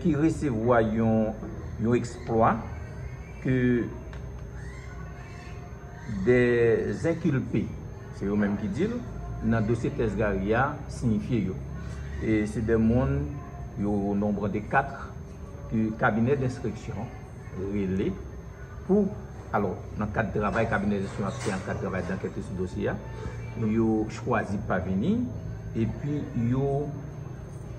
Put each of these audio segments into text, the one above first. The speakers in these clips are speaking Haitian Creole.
ki resevwa yon eksplwa ke de zenkilpe, se yo menm ki di l, nan dosye tès Gary a siyifye yo. E se de moun yo o nonbr de 4 ke kabinè denstriksyon rele pou, alò, nan kad travay kabinè denstriksyon ap fè, nan kad travay dankète sou dosye a, yo chwazi pa vini, epi yo.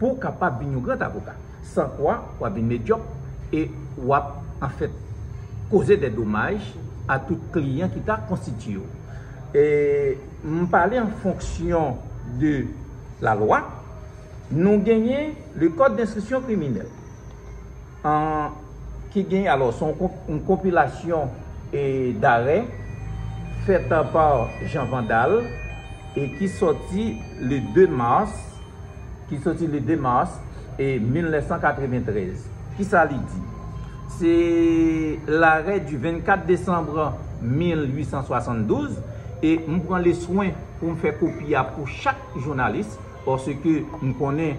Pou w kapab vin yon grand avoka. San kwa, w ap vin medyòk e w ap, anfèt, koze dè domaj a tout kliyan ki ta konstitiye w. E m pale an fonksyon de lalwa. Nou genyen le Code d'instruction criminelle. an ki gen alò se yon konpilasyon darè fèt pa Jean Vandal e ki sòti le 2 mas ki sòti le 2 mas 1993 ki sa li di se larè di 24 desanm 1872 e m pran le swen pou m fè kopi a pou chak jounalis pòske m konnen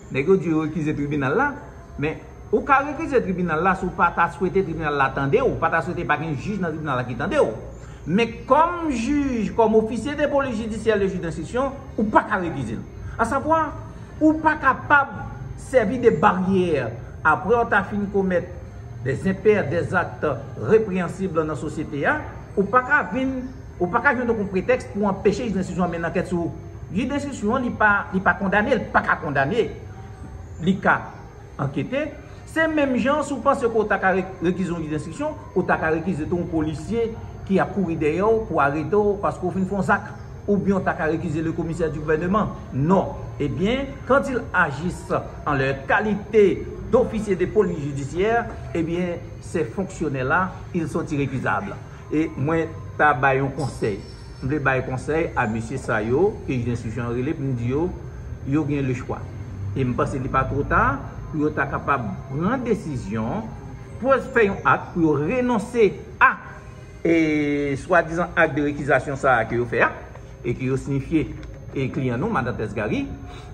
Nèg yo di yo rekize tribinal la, men ou ka rekize tribinal la si w pa ta swete tribinal la tande w, pa ta swete pa gen jij nan tribinal la ki tande w. Men kòm jij, kòm ofisye de polis jidisyè le jij denstriksyon, ou pa ka rekize l. Asavwa, ou pa kapab sèvi de baryè aprè w ta fin komèt des impairs, des actes répréhensibles nan sosyete a, ou pa ka vin. Ou pa ka jwenn oken pretèks pou anpeche jij denstriksyon an mennen ankèt sou ou. Jij denstriksyon an li pa kondane, li pa ka kondane. Li ka ankete. Se menm jan an si ou panse ke ou ta ka rekize yon jij denstriksyon, ou ta ka rekize tou yon polisye ki ap kouri dèyè ou pou arete ou paske ou fin fè yon zak. Oubyen ou ta ka rekize le commissaire du gouvernement. Non. Ebyen, quand ils agissent en leur qualité d'officiers de police judiciaire, ebyen, ces fonctionnaires-là, ils sont irrécusables. E mwen ta bay yon konsèy. M vle bay konsèy a mesye sa yo ke jij enstriksyon an rele pou m di yo, yo gen lechwa. E m panse li pa two ta pou yo ta kapab pran desizyon, pou yo fè yon ak pou yo renonse a e swadizan ak de rekizasyon sa a ke yo fè a e ke yo siyifye e kliyan nou, Madan Tess Garry,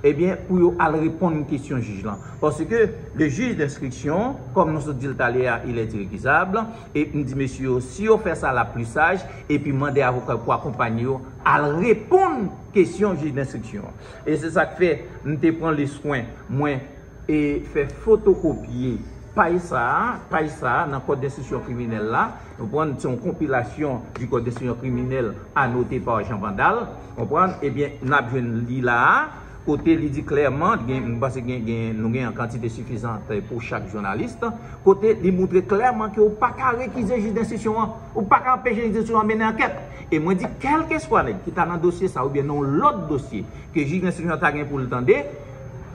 ebyen pou yo al reponn kesyon jij lan. Paske le juge d'instruction, kòm nou sot di l talè a, il est irrécusable. E m di mesye yo, si yo fè sa l ap pli saj, epi mande avoka yo pou akonpanye yo al reponn kesyon jij denstriksyon an. E se sa k fè m te pran leswen mwen e fè fotokopye paj sa a, paj sa a nan kòd denstriksyon kriminèl la, ou konprann, se yon konpilasyon di kòd denstriksyon kriminèl anote pa Jean Vandal, ou konprann, ebyen n ap jwenn li la a, kote li di klèman, mwen panse nou gen an kantite sifizan pou chak jounalis, kote li moutre klèman ke ou pa ka rekize jij denstriksyon an, ou pa ka anpeche jij denstriksyon an mennen ankèt. E mwen di kèlkeswa nèg ki ta nan dosye sa oubyen nan yon lòt dosye ke jij denstriksyon an ta gen pou l tande,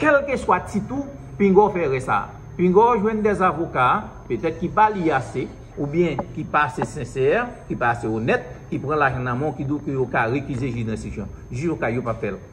kèlkeswa tit ou, pinga w fè erè sa a. Pinga w jwenn dè avoka, petèt ki pa li ase, oubyen ki pa ase sensè, ki pa ase onèt, ki pran lajan nan men w, ki di w ke yo ka rekize jij denstriksyon. Jij ou ka yo pa p fè l.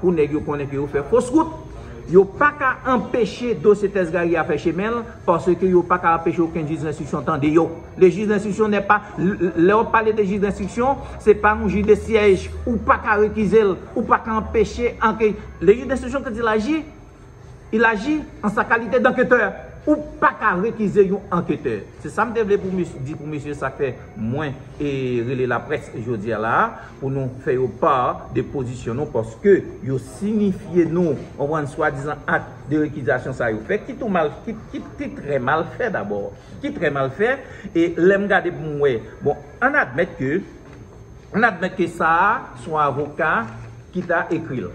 pou nèg yo konnen ke yo fè fos wout, yo pa ka anpeche dosye tès Gary a fè chemen l, paske yo pa ka anpeche okenn jij denstriksyon tande yo. Le jij denstriksyon nè pa, lè wap pale de jij denstriksyon, se pa yon jij de syèj, ou pa ka rekize l, ou pa ka anpeche anke, le jij denstriksyon kan di l aji, Ilaji an sa kalite danketè, ou paka rekize yon anketè. Se sa m te vle pou m di pou mesye sa k fè mwen e rele laprès jodi a la a pou nou fè yo part de pozisyon nou paske yo sinifye nou konprann swadizan ak de rekizasyon sa yo fè ki tou mal ki trè mal fè dabò ki trè mal fè e lè m gade pou m wè bon ann admèt ke ann admèt ke sa a son avoka ki ta ekri l.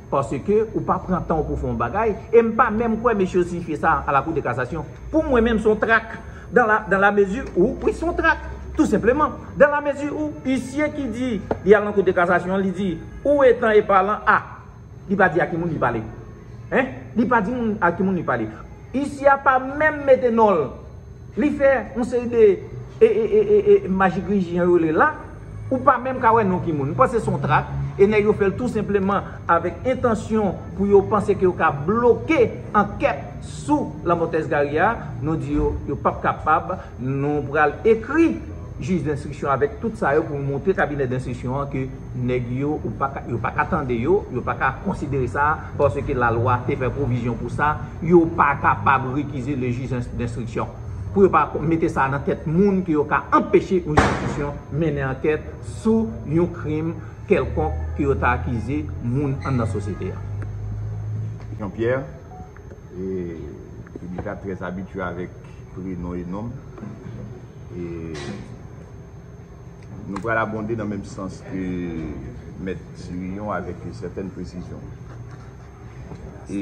paske ou pa pran tan w pou w fè yon bagay, e m pa menm kwè mesye yo siyifye sa a la Cour de Cassation. Pou mwen menm se yon trak, dan la, dan la mezi ou, wi se yon trak, tou senpleman, dan la mezi ou, isye ki di li al nan Cour de Cassation an li di, ou etan e palan a, li pa di a ki moun li pale. Hein? Li pa di moun a ki moun li pale. Isye a pa menm mete non l. Li fè yon seri de e, e, e, e, e, majigriji jan yo rele l la, Ou pa menm ka wè non ki moun. M panse son trak, e nèg yo fèl tou senpleman avèk entansyon pou yo panse ke yo ka bloke ankèt sou lanmò Tès Gary a, nou di yo, yo pap kapab, nou pral ekri jij denstriksyon avèk tout sa yo pou montre kabinè denstriksyon an ke nèg yo ou paka yo paka tande yo, yo paka konsidere sa paske lalwa te fè pwovizyon pou sa, yo pa kapab rekize le jij denstriksyon. pou yo pa mete sa nan tèt moun ke yo ka anpeche yon enstitisyon mennen ankèt sou yon krim kèlkonk ke yo ta akize moun anndan sosyete a. Jean Pierre, e piblik la trè abitye avèk prenon e nom, e nou pral abonde nan menm sans ke mèt Cyrillon avèk yon sètèn presizyon. E.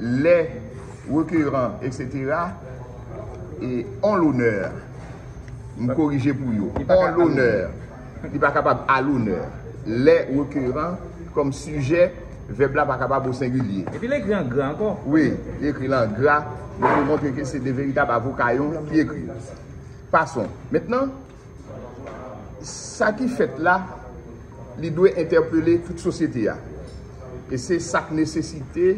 lè rekeran etc e on lonè m korije pou yo on lonè li pa kapab a lonè lè rekeran kòm sijè vèb la pa kapab o sengilye epi l ekri an gra ankò wi li ekri l an gra pou montre ke se de veritab avoka yo ki ekri l pason mètnan Sa ki fèt la, li dwe entèpele tout sosyete a. E se sa k nesesite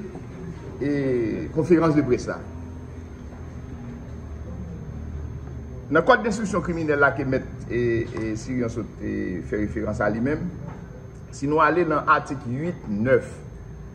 konferans de près la. Nan kòd denstriksyon kriminèl la ke mèt Sirian sot fè referans a li menm, si nou ale nan atik 8, 9,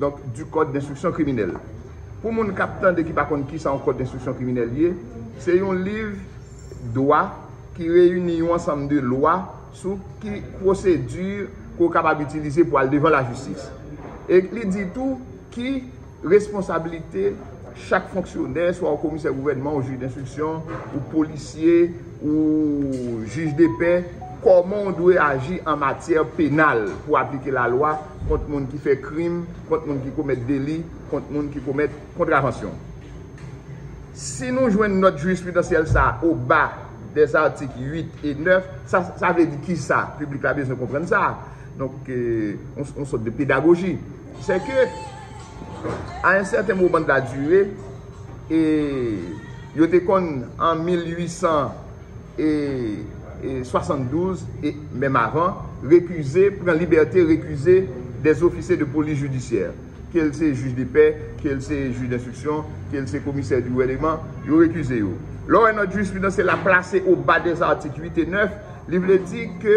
Donk du code d'instruction criminelle. Pou moun k ap tande ki pa konn kisa yon code d'instruction criminelle ye, se yon liv dwa ki reyini yon ansanm de lwa sou ki pwosedi ke w kapab itilize pou al devan lajistis. E li di tou ki responsabilite. Chak fonksyonè, swa ou komisè gouvènman, ou jij denstriksyon, ou polisye, ou jij depè, kòman ou dwe aji an matyè penal pou aplike lalwa kont moun ki fè krim, kont moun ki komèt deli, kont moun ki komèt kontravansyon. Si nou jwenn nòt jirisprudansyèl sa a o ba des articles 8 et 9, sa sa vle di kisa? Piblik la bezwen konprann sa. Donk, yon sòt de pedagoji. Se ke, a en sèten moman de la dure, e yo te konn an 1872, e menm avan, rekize, pran libète rekize des ofisye de polis jidisyè. Ke l se jij de pè, ke l se jij denstriksyon, ke l se komisè di gouvèneman, yo rekize yo. Lè w wè nòt jirispridans se la plase o ba des articles 8 et 9, li vle di ke,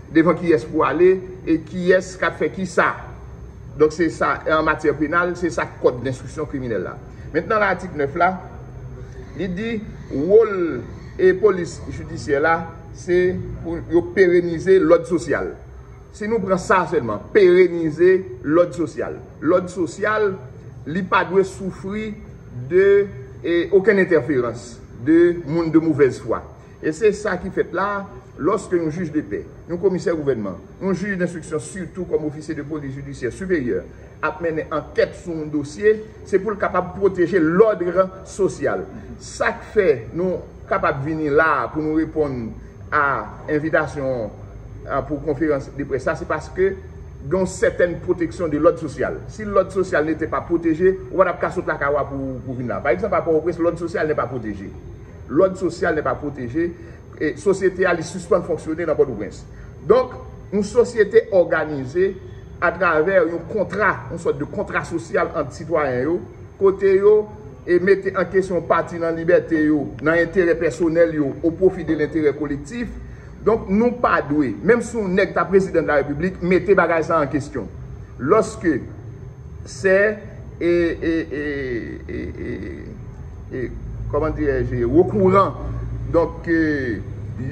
Devan kiyès pou ale e kiyès k ap fè kisa. Donk se sa, an matyè penal, se sa kòd denstriksyon kriminèl la. Mentnan nan atik 9 la, li di wòl e polis jidisyè la se pou yo perenize lòd sosyal. Si nou pran sa sèlman, perenize lòd sosyal. Lòd sosyal, li pa dwe soufri de okenn entèferans de moun de movèz fwa. E se sa ki fèt la a, lòske yon jij de pè, yon komisè gouvènman, yon jij denstriksyon sitou kòm ofisye de polis jidisyè siperyè ap mennen ankèt sou yon dosye, se pou l kapab pwoteje lòdre sosyal. Sa k fè nou kapab vini la a pou nou reponn a envitasyon an pou konferans de près sa a, se paske gen yon sètèn pwoteksyon de lòd sosyal. Si lòd sosyal nete pa pwoteje, ou pa t ap ka sot lakay ou a pou vin la a. Pa egzanp a Pòtoprens, lòd sosyal ne pa pwoteje. Lòd sosyal nè pa pwoteje, sosyete a li sispann fonksyone nan Pòtoprens. Donk, yon sosyete òganize atravè yon kontra, yon sòt de kontra sosyal ant sitwayen yo, kote yo mete an kesyon yon pati nan libète yo, nan enterè pèsonèl yo, o pwofi de lenterè kolektif. Donk, nou pa dwe, menm si yon nèg ta prezidan de la Repiblik, mete bagay sa an kesyon. Lòske. Sè e e e e e e kòman dirè je rekouran donk ke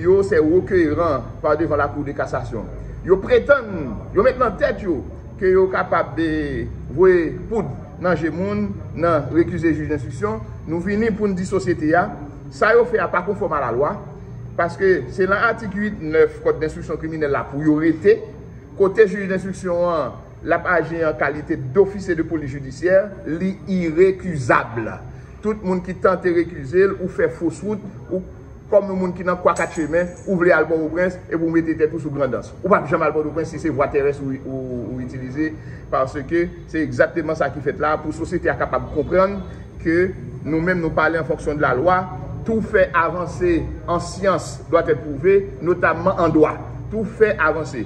yo sè rekeran pa devan la kou de kasasyon. Yo pretann, yo met nan tèt yo ke yo kapab de voye poud nan je moun nan rekize jij denstriksyon. Nou vini pou n di sosyete a sa yo fè a pa konfòm a la lwa paske se lan atik 8, 9 kòd denstriksyon kriminèl la pou yo rete kote jij denstriksyon an l ap aji an kalite dofisye de polis jidisyè, li irekizab. Tout moun ki tante rekize l, ou fè fos wout, ou kòm yon moun ki nan kwa kat chemen, ou vle al Pòtoprens epi ou mete tèt ou sou Grandans. Ou pap janm al Pòtoprens si se vwa terès ou itilize paske se egzakteman sa ki fèt la pou sosyete a kapab konprann ke nou menm nou pale an fonksyon de la lwa, tou fè avanse an syans dwatètpwouve, notamman an dwa. Tou fè avanse.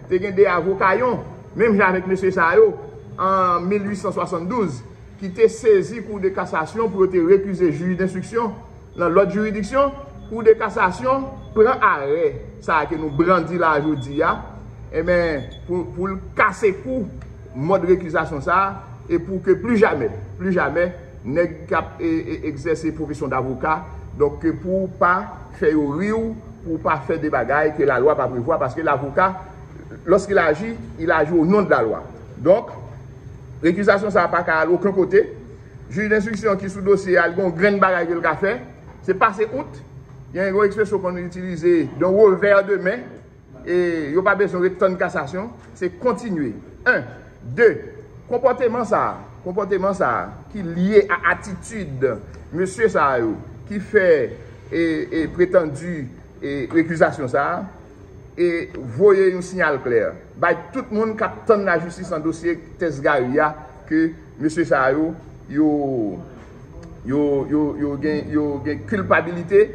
Te gen 2 avoka yon, menm jan avèk mesye sa yo, an 1872, ki te sezi Kou de Kasasyon pou yo te rekize jij denstriksyon nan lòt jiridiksyon, Kou de Kasasyon pran arè sa ke nou brandi la jodi a, enben, pou l kase kou mòd rekizasyon sa a, e pou ke plijamè, plijamè, Nèg kap egzèse pwofesyon davoka, donk ke pou w pa fè yo ri w, pou w pa fè de bagay ke lalwa pa prevwa, paske lavoka, lorsqu'il agit, il agit au nom de la loi. Donk, rekizasyon sa a pa ka al oken kote, jij denstriksyon ki sou dosye a, li gen yon grenn bagay ke l ka fè, se pase out, gen yon ekspresyon konn itilize, d'un revers de main. E yo pa bezwen ret tann kasasyon, se kontinye. 1, 2, Konpòteman sa a, konpòteman sa a ki lye a atitid mesye sa yo ki fè e pretandi e rekizasyon sa a, e voye yon siyal klè bay tout moun k ap tann lajistis nan dosye tès Gary a ke mesye sa yo, yo, yo, yo, yo gen, yo gen kilpabilite,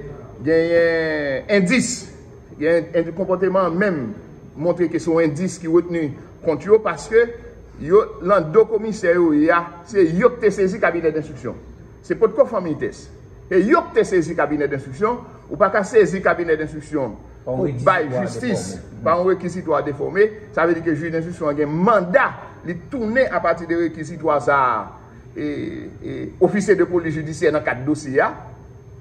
genyen endis. Gen konpòteman an menm montre ke se yon endis ki retni kont yo paske yo lan do komisè yo ye a, se yo ki te sezi kabinè denstriksyon. Se potko fanmiy Tès. Se yo ki te sezi kabinè denstriksyon, ou pa ka sezi kabinè denstriksyon pou bay jistis pa yon rekizitwa defòme, sa vle di ke jij denstriksyon an gen manda li tounen apati de rekizitwa sa a ofisye de polis jidisyè nan kad dosye a,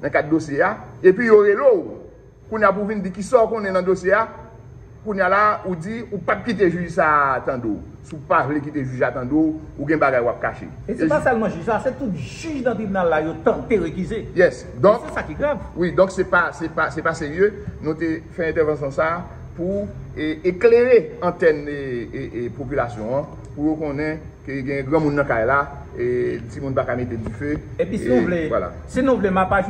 nan kad dosye a, epi yo rele w. Kounya pou vin di kisa w konnen nan dosye a, kounya la ou di ou pap kite jij sa a tande w, si w pa vle kite jij la tande w, ou gen bagay wap kache. E se pa sèlman jij la, se tout jij nan tribinal la yo tante rekize. Yes, donk. E se sa ki grav. Wi, donk se pa, se pa, se pa serye, nou te fè entèvansyon sa a pou eklere antèn popilasyon an, pou yo konnen ke gen granmoun nan kay la, e timoun pa ka mete dife, e vwala. E pi si nou vle, si nou vle map aj.